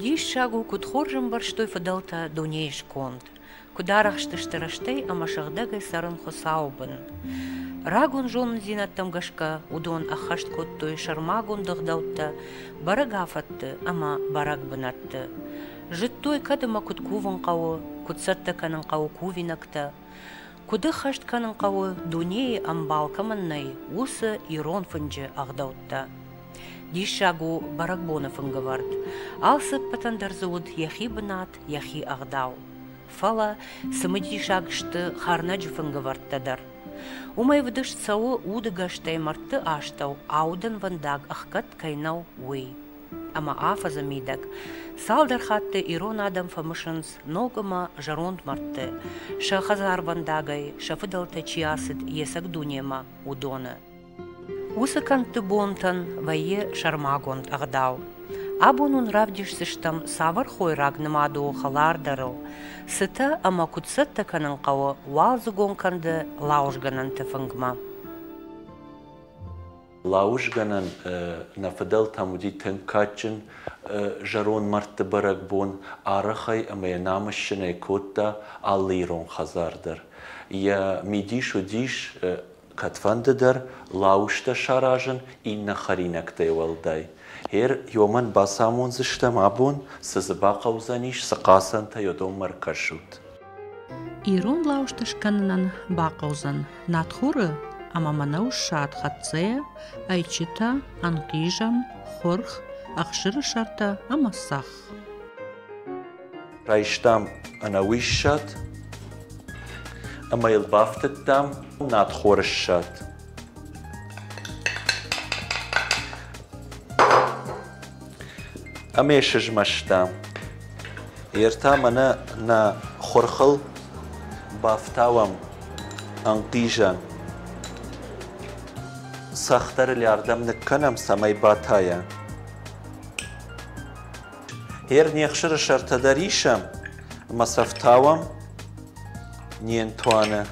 Диссаг у, куыд хорз ӕмбӕрстой фыдӕлтӕ дунейы сконд, куыд арӕхстысты рӕстӕй ӕмӕ сыгъдӕгӕй цӕрын Хуыцауы бын. Рагон зонындзинӕдтӕм гӕсгӕ уыдон ӕххӕст кодтой сӕрмагонд ӕгъдӕуттӕ бӕрӕг афӕтты ӕмӕ бӕрӕг бынӕтты. Зыдтой, кӕд ӕмӕ куыд кувын хъӕуы, куыд цӕттӕ кӕнын хъӕуы кувинӕгтӕ. Куыд ӕххӕст кӕнын хъӕуы, дунейы ӕмбал кӕмӕн нӕй, уыцы ирон фынджы ӕгъдӕуттӕ? Диссаг у бӕрӕгбоны фынгӕвӕрд. Алцыппӕтӕн дӕр дзы уыд йӕхи бынат, йӕхи ӕгъдау. Фӕлӕ цымыдисаг сты хӕрнӕджы фынгӕвӕрдтӕ дӕр. Уымӕй вдыст цӕуы удыгӕстӕй мӕрдты астӕу аудӕнвӕндаг ӕхгӕд кӕй нӕу, уый. ӕмӕ афӕдзы мидӕг. Цалдӕр хатты ирон адӕм фӕмысынц ног ӕмӕ зӕронд мӕрдты, сӕ хӕдзарвӕндагӕй, сӕ фыдӕлтӕ чи ацыд есӕг дунемӕ, уыдоны. Уыцы кӕндты бонтӕн вӕййы сӕрмагонд ӕгъдау. Абон уын равдисдзыстӕм цавӕр хойраг нымад у хӕлардӕрыл, цытӕ ӕмӕ куыд цӕттӕ кӕнын хъӕуы уалдзыгон кӕнды лауызгӕнӕнты фынгмӕ. Лауызгӕнӕн нӕ фыдӕлтӕм уыди тынг кадджын зӕронд мӕрдты бӕрӕгбон, арахӕй ӕмӕ йӕ намыссынӕй кодта алы ирон хӕдзар дӕр. Йӕ мидис уыдис кӕдфӕнды дӕр лауызтӕ саразын иннӕ хӕринӕгтӕй уӕлдай. Гъер уымӕн бацамондзыстӕм абон, цы дзы бахъӕудзӕнис, цы хъацӕнтӕ йӕ донмӕ ӕркӕсут. Ирон лаушты скӕнынӕн бахъӕудзӕн надхуры ӕмӕ мӕнӕу ссад хӕццӕйӕ, ӕйчытӕ, ӕнхъизӕн, хурх, ӕхсыры сӕртӕ ӕмӕ цӕхх. Райстам ӕнӕуи ссад ӕмӕ йыл бафтыдтам надхоры ссад. Ӕмӕ сызмӕста. Йе ртӕ мӕнӕ нӕ хурхыл бафтауӕм ӕнхъизӕн. Цӕхдӕры лӕрдӕм ныккӕнӕм, цӕмӕй батайа. Ер не хсыры сӕртӕ дӕр исӕм, ӕмӕ сӕ фтауӕм не нтуаны.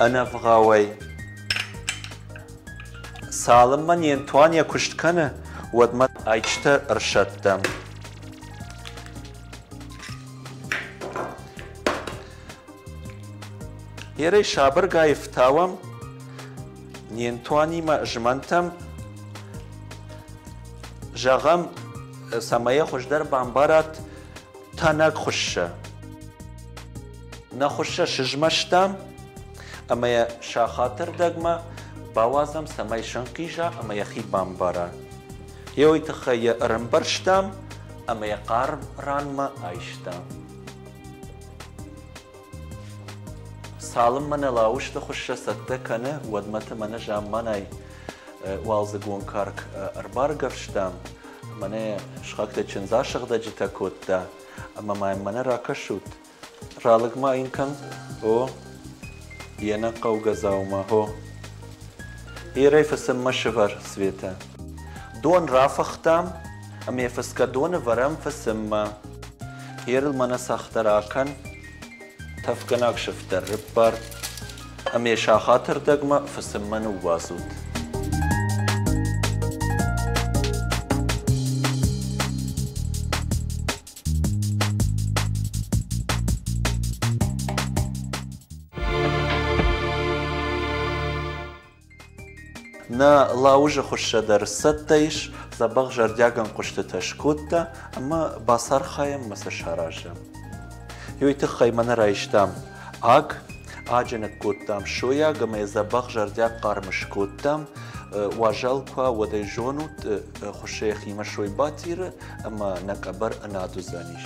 Ӕнӕвгъауӕй. Цалынмӕ не Антуан йӕ куыст кӕны, уӕдмӕ ӕйчытӕ ӕрсӕттӕм. Ерӕй сабыргай фтауӕм, не Антуанимӕ змӕнтӕм, зӕгъӕм, цӕмӕй йӕ хуыздӕр бамбарат тӕнӕг хуыссӕ. Нӕ хуыссӕ сызмӕстам ӕмӕ йӕ сахаты рдӕгмӕ бауадзӕм, цӕмӕй сынхъиза ӕмӕ йӕхи бамбара. Йӕ уый тыххӕй йӕ ӕрӕмбӕрзтам ӕмӕ йӕ хъӕр ранмӕ айстам. Цалынмӕ нӕ лауызты хуыссӕ цӕттӕ кӕны, уӕдмӕты мӕнӕ замманай уалдзыгон карк ӕрбаргӕвстам, мӕнӕ схӕгтӕ чындз асыгъдӕджытӕ кодта, ӕмӕ ма йын мӕнӕ ракӕсут, ралыг ма йын кӕн, о, йе нӕ хъӕугӕ дзаума, хо. Ирӕй фысыммӕ сывӕр, Светӕ. Дон рафыхтам, Ӕмӕ фысгӕ доны вӕрӕм фысыммӕ. Хъерыл мӕнӕ цӕхтӕ ракӕн. Тӕфгӕнаг сыфтӕр рыббар. Ӕмӕ сахаты рдӕгмӕ фысыммӕ ныууадзут. Нӕ лауызы хуыссӕ дӕр цӕттӕ ис, дзӕбӕх зӕрдиаг ӕнхъуыстытӕ скодта ӕмӕ бацархайӕм ӕмӕ сӕ саразӕм. Уый тыххӕй мӕ нӕ райстам аг, аджы ныккодтам сойаг ӕмӕ йӕ дзӕбӕх зӕрдиаг хъарм скодтам. Уазал куы уа, уӕд ӕй зонут, хуыссы йӕхимӕ сой батиры ӕмӕ нӕ къӕбӕр ӕнад уыдзӕнис.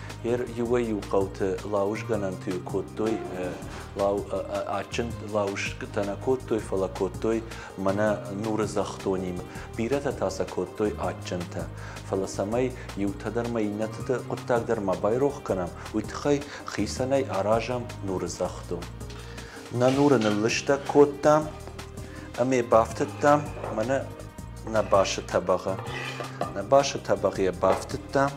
Ер иуӕй-иу хъӕуты лауызгӕнӕнты кодтой, лау, адджын лауызгӕтӕ нӕ кодтой, фӕлӕ кодтой мӕнӕ нуры зӕхдонимӕ. Бирӕтӕ та сӕ кодтой адджынтӕ. Фӕлӕ цӕмӕй иутӕ дӕр ӕмӕ иннӕты хъуыддаг дӕр ма байрох кӕнӕм, уый тыххӕй хицӕнӕй аразӕм нуры зӕхдон. Нӕ нуры ныллыстӕг кодтам ӕмӕ бафтыдтам мӕнӕ Нӕ басы тӕбӕгъы Нӕ басы тӕбӕгъ йӕ бафтыдта.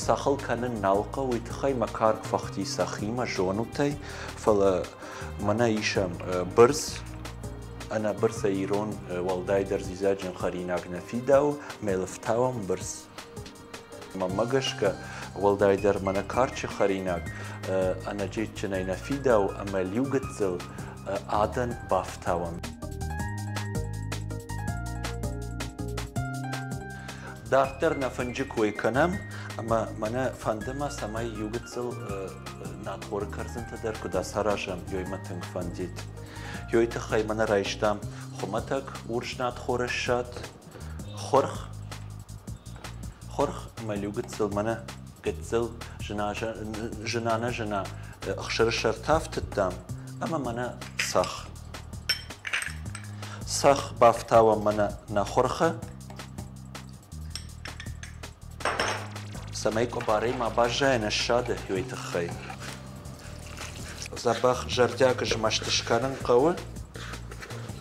Цахыл кӕнын нал хъӕуы, уый тыххӕй мӕ карк фӕхти сӕхимӕ зонутӕй, фӕлӕ мӕнӕ исӕм бырс, ӕнӕ бырсӕй ирон уӕлдайдӕр зизӕджын хӕринаг нӕ фидауы, мӕ лыфтауӕм бырс. Мӕнмӕ гӕсгӕ, уӕлдайдӕр мӕнӕ карчы хӕринаг ӕнӕджеджджынӕй нӕ фидауы ӕмӕ лиу гыццыл адӕн бафтауӕм. Дарддӕр нӕ фынджы кой кӕнӕм, ӕмӕ мӕнӕ фӕнды мӕ, цӕмӕй иу гыццыл нӕхоры кӕрдзынтӕ дӕр куыд ацаразӕм, ёй мӕ тынг фӕндид. Ёй тыххӕй мӕнӕ райстам хуымӕтӕг урс надхоры ссад, Хурх, хурх мӕ лиу гыццыл, мӕнӕ гыццыл, зына-нӕзына ӕхсырсӕртӕ ӕфтыдтам ӕмӕ мӕнӕ цӕхх. Цӕхх бафтауӕм мӕнӕ нӕ хурхы, цӕмӕй къуыбарӕй ма баззайӕн ссады уый тыххӕй. Дзӕбӕх зӕрдиаг змӕст скӕнын хъӕуы.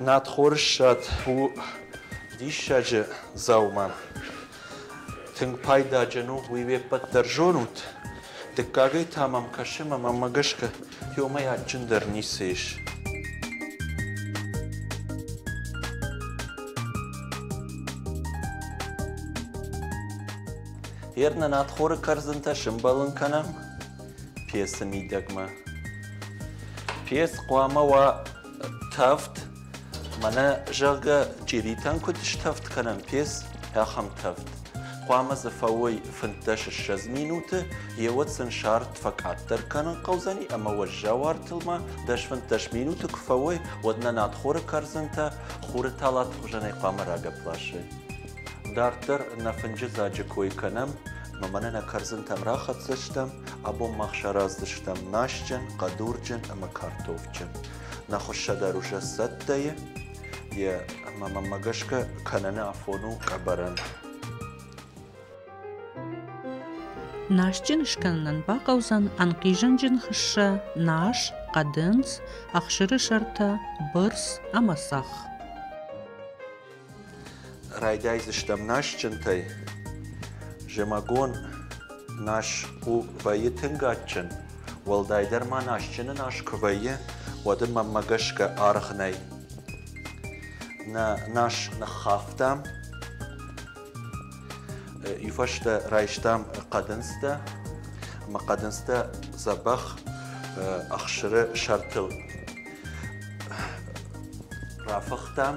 Надхоры ссад у диссаджы дзаума. Тынг пайдаджын у, уый ве ппӕт дӕр зонут. Дыккагӕй та мӕм кӕсы, мӕ маммӕ гӕсгӕ темӕй адджындӕр ницы ис. Гъер нӕ надхоры кӕрдзынтӕ сымбӕлын кӕнӕм пьесы мидӕгмӕ. Пьес хъуамӕ уа тӕвд, мӕнӕ, зӕгъгӕ, чъиритӕн куыд стӕвд кӕнӕм пьес, ахӕм тӕвд. Хъуамӕ дзы фӕуой фынддӕс ссӕдз минуты, еуӕд сын сӕрд фӕкъаддӕр кӕнын хъӕудзӕни ӕмӕ уӕззау артыл ма дӕс фынддӕс минуты куы фӕуой, уӕд нӕ надхоры кӕрдзынтӕ хуры талаты хуызӕнӕй хъуамӕ рагӕпп ласой. Дарддӕр нӕ фынджыдзаджы кой кӕнӕм, ӕмӕ мӕнӕ нӕ кӕрдзынтӕм рахӕцдзыстӕм, абон мах сараздзыстӕм масджын, хъӕдурджын ӕмӕ картофджын. Нӕ хуыссӕ дӕр уже сцӕттӕйы, йе, ӕмӕ мӕнмӕ гӕсгӕ кӕнӕны афон у ӕбӕрӕн. Насджын скӕнынӕн бахъӕудзӕн ӕнхъизӕнджын хуыссӕ, нас, хъӕдындз, ӕхсыры сӕртӕ, бырс ӕмӕ цӕхх. Райдайдзыстӕм насджынтӕй. Зымӕгон нас у вӕййы тынг адджын, уӕлдайдӕр ма насджыны нас куы вӕййы, уӕд ын мӕнмӕ гӕсгӕ аргъ нӕй. Нӕ нас ныххафтам, уый фӕстӕ райстам хъӕдындзтӕ. Ӕмӕ хъӕдындзтӕ дзӕбӕх ӕхсыры сӕртыл рафыхтам.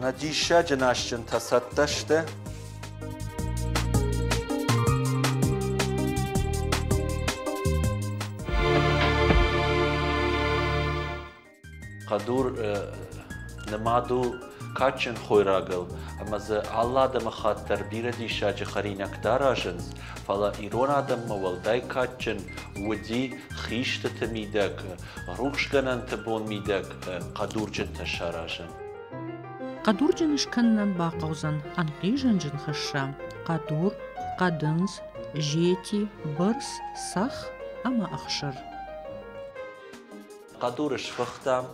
Нӕ диссаджы насджынтӕ цӕттӕ сты? Хъӕдур нымад у кадджын хойрагыл, ӕмӕ дзы алы адӕмыхатт дӕр бирӕ диссаджы хӕринӕгтӕ аразынц, фӕлӕ ирон адӕммӕ уӕлдай кадджын уыди хистыты мидӕг рухсгӕнӕнты бон мидӕг хъӕдурджынтӕ саразын. Хъӕдурджын скӕнынӕн бахъӕудзӕн ӕнхъизӕнджын хӕсса, хъӕдур, хъӕдындз, зети, бырс, сах ӕмӕ ӕхсыр. Хъӕдуры сфыхтам,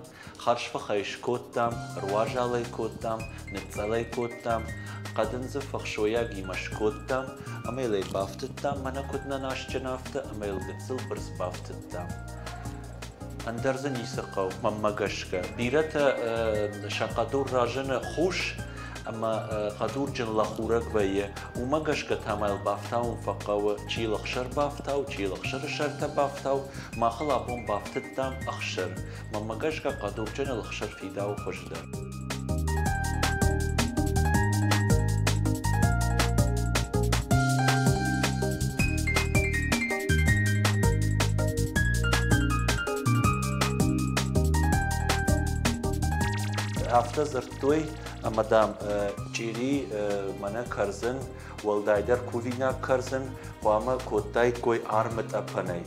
хӕрзфыхӕй скодтам, руазал ӕй кодтам, ныцъцъӕл ӕй кодтам, хъӕдындзы фӕхсойагимӕ скодтам, ӕмӕ йыл ӕй бафтыдтам, мӕнӕ куыд нӕ насджын афтӕ, ӕмӕ йыл гыццыл бырс бафтыдтам. Ӕндӕр дзы ницы хъӕуы, мӕнмӕ гӕсгӕ. Бирӕтӕ сӕ хъӕдур разыны хус ӕмӕ хъӕдурджын лӕхурӕг вӕййы. Уымӕ гӕсгӕ та мӕ йыл бафтауын фӕхъӕуы, чи лӕхсӕр бафтау, чи лӕхсӕры сӕртӕ бафтау. Мах ыл абон бафтыдтам ӕхсӕр. Мӕнмӕ гӕсгӕ хъӕдурджыны лӕхсӕр фидауы хуыздӕр. афтӕ дзырдтой ӕмӕ дам чъири мӕнӕ кӕрдзын уӕлдайдӕр кувинаг кӕрдзын хъуамӕ кодтаиккой армытъӕпӕнӕй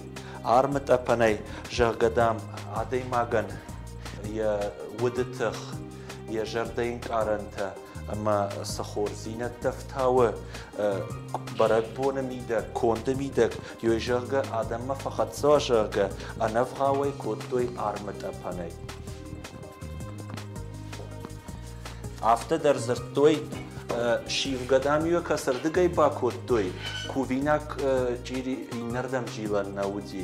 армытъӕпӕнӕй зӕгъгӕ дам адӕймагӕн йӕ уды тых, йӕ зӕрдӕнкъарӕнтӕ ӕмӕ цы хорздзинӕдтӕ фтауы бӕрӕгбоны мидӕг, конды мидӕг, ёй зӕгъгӕ адӕммӕ фӕхӕццӕ, зӕгъгӕ, ӕнӕвгъауӕй кодтой армытъӕпӕнӕй. Афтӕ дӕр дзырдтой, сивгӕ дам-иё кӕцырдыгӕй бакодтой, кувинаг чъири иннӕрдӕм зилӕн нӕ уыди.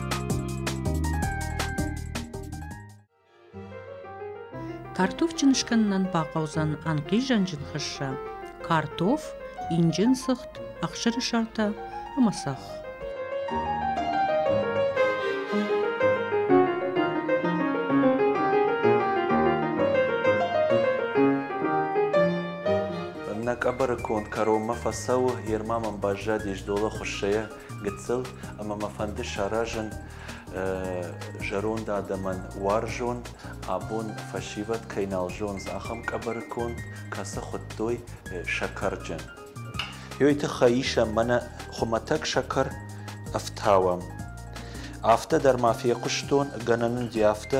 картофджын скӕнынӕн бахъӕудзӕн ӕнхъизӕнджын хӕсса картоф инджын сыгъд ӕхсыры сӕртӕ ӕмӕ цӕхх Нӕ къӕбӕры конд кӕронмӕ фӕцӕуы, Ерма мӕм баззадис долы хуыссӕйӕ, гыццыл ӕмӕ мӕ фӕнды саразын зӕронд адӕмӕн уарзон, абон фӕсивӕд кӕй нал зондз, ахӕм къӕбӕры конд, кӕцы хуыдтой сӕкӕрджын. Уый тыххӕй исӕм мӕнӕ хуымӕтӕг сӕкӕр ӕфтауӕм. Афтӕ дӕр ма фехъуыстон, гӕнӕн уыди афтӕ,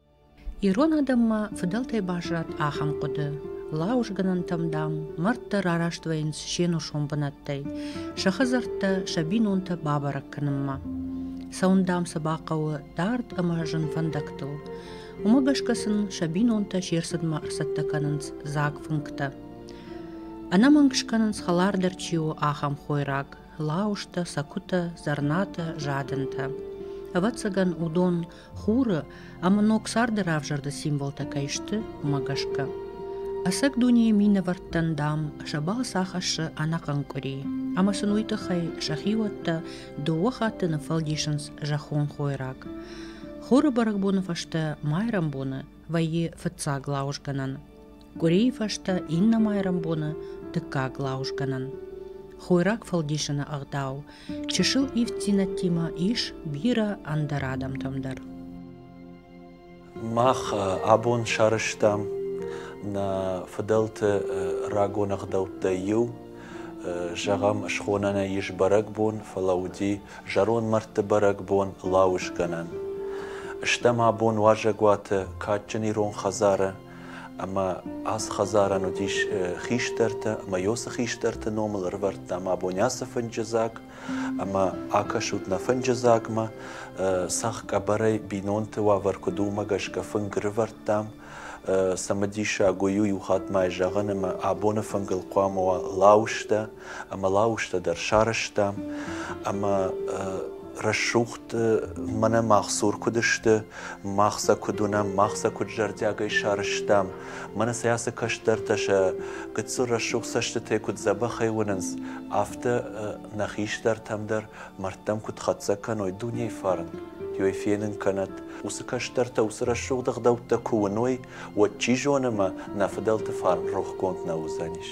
Ирон адӕммӕ фыдӕлтӕй баззад ахӕм хъуыды: лауызгӕнӕнтӕм, дам, мӕрдтӕ рараст вӕййынц се нусон бынӕттӕй, сӕ хӕдзӕрттӕ, сӕ бинонтӕ бабӕрӕг кӕнынмӕ. Цӕуын, дам, сӕ бахъӕуы дард ӕмӕ зын фӕндӕгтыл. Уымӕ гӕсгӕ сын сӕ бинонтӕ се рцыдмӕ ӕрцӕттӕ кӕнынц дзаг фынгтӕ. Ӕнӕмӕнг скӕнынц хӕлардӕр чи у, ахӕм хойраг: лауызтӕ, сӕкуытӕ, зӕрнатӕ, задӕнтӕ. Ӕвӕццӕгӕн, уыдон хуры ӕмӕ ног царды равзӕрды символтӕ кӕй сты, уымӕ гӕсгӕ. Ӕцӕг дунейы минӕвӕрттӕн, дам, сӕ балц ахӕссы ӕнӕхъӕн къуыри. Ӕмӕ сын уый тыххӕй сӕ хиуӕттӕ дыууӕ хатты ныффӕлдисынц зӕххон хойраг. Хуры бӕрӕгбоны фӕстӕ майрӕмбоны вӕййы фыццаг лауызгӕнӕн. Къуырийы фӕстӕ иннӕ майрӕмбоны дыккаг лауызгӕнӕн. Хойраг фӕлдисыны ӕгъдау чысыл ивддзинӕдтимӕ ис бирӕ ӕндӕр адӕмтӕм дӕр. Мах абон сарӕзтам нӕ фыдӕлты рагон ӕгъдӕуттӕй иу. Зӕгъӕм, схонӕн нӕ ис бӕрӕгбон, фӕлӕ уыди зӕронд мӕрдты бӕрӕгбон, лауызгӕнӕн. Стӕм абон уазӕгуаты кадджын ирон хӕдзары Ӕмӕ ацы хӕдзарӕн уыдис хистӕртӕ, ӕмӕ Йосы хистӕрты номыл ӕрывӕрдтам абони ацы фынджы дзаг, ӕмӕ акӕсут нӕ фынджы дзагмӕ. Сӕгъ къӕбӕрӕй бинонты уавӕр куыд уымӕ гӕсгӕ фынг рывӕрдтам. Цымыдисаг у иу хатт мӕй зӕгъын, ӕмӕ абоны фынгыл хъуамӕ уа лауызтӕ, ӕмӕ лауызтӕ дӕр сарӕзтам, ӕмӕ рӕсугъд мӕнӕ мах цур куыд сты, мах сӕ куыд уынӕм, мах сӕ куыд зӕрдиагӕй сарӕзтам. Мӕнӕ сӕ ацы кӕстӕртӕ сӕ гыццыл рӕсугъд цӕстытӕй куыд дзӕбӕхӕй уынынц, афтӕ нӕ хистӕртӕм дӕр мӕрдтӕм куыд хӕццӕ кӕной дунейы фарн, ёй фенын кӕнӕт, уыцы кӕстӕртӕ уыцы рӕсугъд ӕгъдӕуттӕ куы уыной, уӕд, чи зоны, мӕ нӕ фыдӕлты фарн рохгонд нӕ уыдзӕнис.